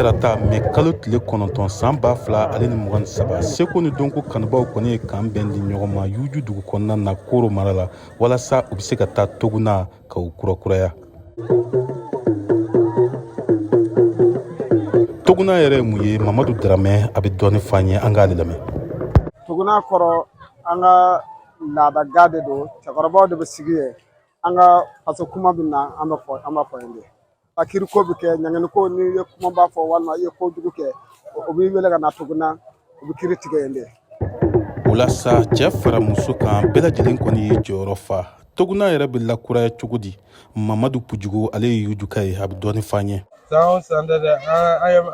tarata mɛ kalo tile kɔnɔntɔn san ba fila ale ni mugan ni saba seko ni donko kanubaw kɔni ye kan bɛn di ɲɔgɔn ma yuju dugu kɔnɔna na koro mara la walasa u be se ka taa toguna ka o kurakuraya toguna yɛrɛ ye mun ye mamadu daramɛ a be dɔɔni f'an ye an k'ale lamɛn toguna kɔrɔ an ka laada ga de don cɛkɔrɔbaw de bɛ sigi yen an ka faso kuma bɛ na an bɛ fɔ an b'a fɔ yen de a kiri ko bɛ kɛ ɲangini ko n'i ye kumaba fɔ walima i ye ko jugu kɛ o b'i wele ka na toguna u bɛ kiri tigɛ yen de o la sa cɛ fara muso kan bɛɛ lajɛlen kɔni ye jɔyɔrɔ fa tuguna yɛrɛ bɛ lakuraya cogo di mamadu pujugu ale ye yujuka ye a bɛ dɔɔni fɔ an ye san o san tɛ dɛ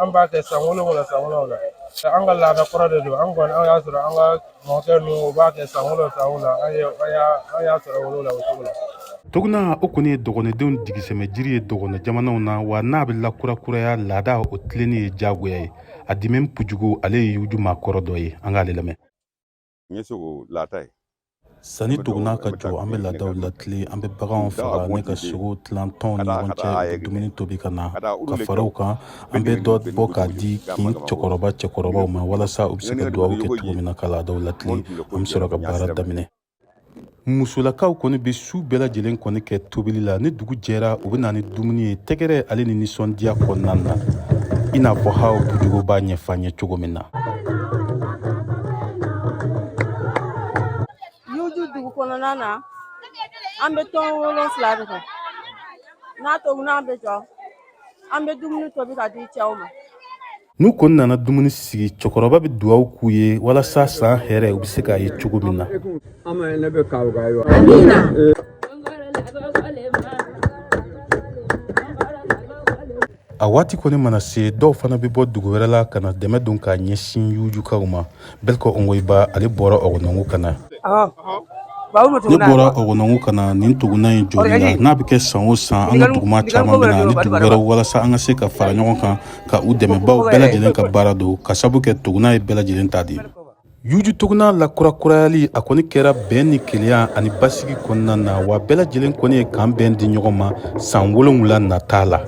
an b'a kɛ san wolonwula san wolonwula an ka laada kɔrɔ de don an kɔni an y'a sɔrɔ an ka mɔkɛ ninnu u b'a kɛ san wolonwula san wolonwula an ye an y'a sɔrɔ wolo la o cogo la tuguna o kɔni ye dɔgɔnɔdenw jigisɛmɛ jiri ye dɔgɔnɔ jamanaw na wa n'a bɛ lakurakuraya laadaw tilenni ye diyagoya ye adimɛn pujugu ale ye yuju maa kɔrɔ dɔ ye an k'ale lamɛn n ye sogo lata ye sanni tuguna ka jɔ an bɛ laadaw latile an bɛ baganw faga ne ka sogo tilan tɔnw ni ɲɔgɔn cɛ dumuni tobi ka na ka fara o kan an bɛ dɔ bɔ k'a di kin cɛkɔrɔba cɛkɔrɔbaw ma walasa u bɛ se ka dugawu kɛ cogo min na ka laadaw latile an bɛ sɔrɔ ka baara daminɛ musolakaw kɔni bɛ su bɛɛ lajɛlen kɔni kɛ tobili la ni dugu jɛra u bɛ na ni dumuni ye tɛgɛrɛ ale ni nisɔndiya kɔnɔna na i n'a fɔ hawa pujugu b'a ɲɛfɔ an ye cogo min na yuju dugu kɔnɔna na an bɛ tɔn wolonfila de kɛ ni toguna bɛ jɔ an bɛ dumuni tobi k'a di cɛw ma n'u kɔni nana dumuni sigi cɛkɔrɔba bɛ dugawu k'u ye walasa san hɛrɛ u bɛ se k'a ye cogo min na a waati kɔni mana se dɔw fana bɛ bɔ dugu wɛrɛ la ka na dɛmɛ don k'a ɲɛsin yujukaw ma Bɛlko ongoyiba ale bɔra ɔgɔnɔngu ka na ne bɔra ɔgɔnɔngu ka na nin tuguna in jɔli la n'a bɛ kɛ san o san an ka duguma caman bɛ na ni dugu wɛrɛ walasa an ka se ka fara ɲɔgɔn kan ka u dɛmɛ bawo bɛɛ lajɛlen ka baara don ka sabu kɛ tuguna ye bɛɛ lajɛlen ta de ye yuju tuguna lakurakurayali a kɔni kɛra bɛn ni kelenya ani basigi kɔnɔna na wa bɛɛ lajɛlen kɔni ye kan bɛn di ɲɔgɔn ma san wolonwula nata la